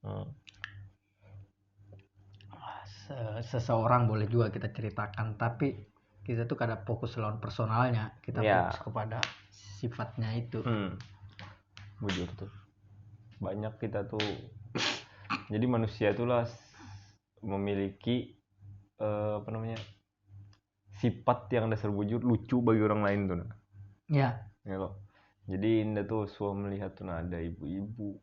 hmm. seseorang boleh juga kita ceritakan tapi kita tuh kada fokus lawan personalnya kita yeah. fokus kepada sifatnya itu hmm. bujur tuh banyak kita tuh jadi manusia itulah memiliki uh, apa namanya sifat yang dasar bujur lucu bagi orang lain tuh nah. ya ya loh jadi indah tuh suah melihat tuh nah, ada ibu-ibu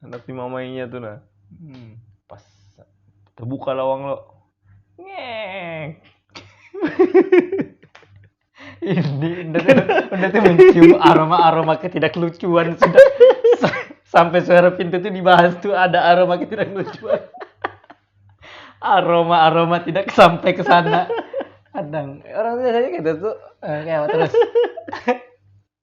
Anak si mamainya tu nah. Hmm. Pas terbuka lawang lo. Ngek. Ini udah tuh, udah tuh mencium aroma-aroma ketidaklucuan sudah sampai suara pintu tuh dibahas tuh ada aroma ketidaklucuan. Aroma-aroma tidak sampai ke sana. Kadang orang biasanya gitu tuh eh, kayak terus.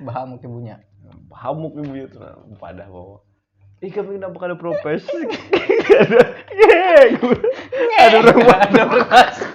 Bahamuk ibunya. Hamuk ibu ya tuh padah bawa. Ih kami kenapa kada propes? Kada. Ngek. Ada orang Ada orang masuk.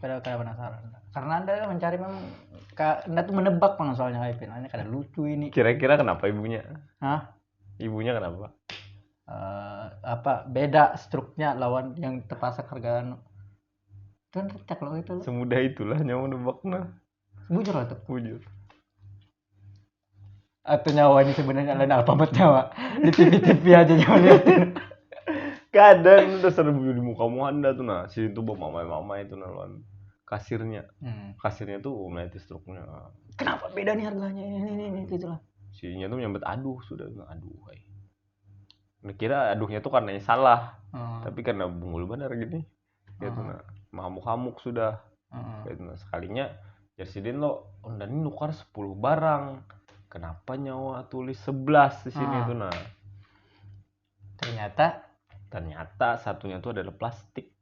kada kada penasaran karena anda mencari memang ka- anda tuh menebak pang soalnya kayak Pin. Ini kada lucu ini Kira-kira kenapa ibunya? Hah? Ibunya kenapa? Eh, apa beda struknya lawan yang terpaksa kerja anu kan cek lo itu lo. Semudah itulah nyawa nebakna. bujur lah tuh Bujur. atau nyawa ini sebenarnya lain alfabet nyawa di TV-TV aja nyawa liatin kadang udah serem di muka muka anda tuh nah sini tuh bawa mamai mamai itu nah lawan kasirnya hmm. kasirnya tuh mulai struknya kenapa beda nih harganya ini ini ini gitu lah sininya tuh nyambet aduh sudah aduh hai kira aduhnya tuh karena salah hmm. tapi karena bungul benar gini gitu uh-huh. nah mahamuk-hamuk sudah uh-huh. gitu nah sekalinya Jersidin lo unda ini nukar 10 barang kenapa nyawa tulis 11 di sini uh-huh. tuh nah ternyata ternyata satunya tuh adalah plastik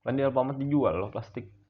kan di Alfamart dijual loh plastik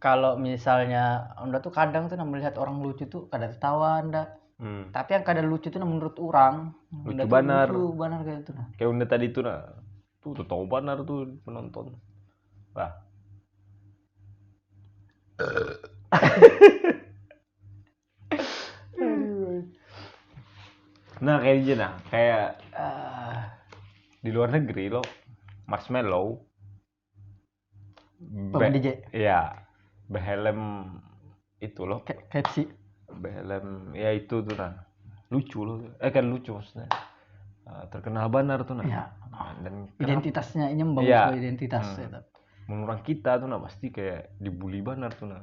kalau misalnya anda tuh kadang tuh melihat orang lucu tuh kada tertawa anda hmm. tapi yang kada lucu tuh menurut orang lucu banar lucu banar kayak itu nah kayak anda tadi tuh nah tuh tertawa banar tuh penonton lah nah kayak gitu nah kayak uh, di luar negeri lo marshmallow Paman DJ. Iya. Behelm itu loh. Kepsi. Behelm ya itu tuh nah. Lucu loh. Eh kan lucu maksudnya. Eh, terkenal banar tuh nah. Iya. Dan identitasnya ini membangun ya. identitas hmm. ya. Menurut kita tuh nah pasti kayak dibully banar tuh nah.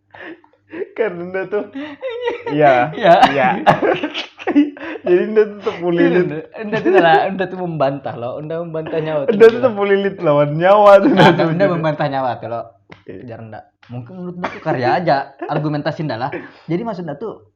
karena dia tuh iya iya iya jadi dia tuh terpulilit anda tuh lah anda tuh membantah loh anda membantah nyawa anda tuh terpulilit lawan nyawa tuh nah, anda, anda membantah nyawa tuh loh iya. jangan enggak mungkin menurut anda tuh karya aja argumentasi anda lah jadi maksud anda tuh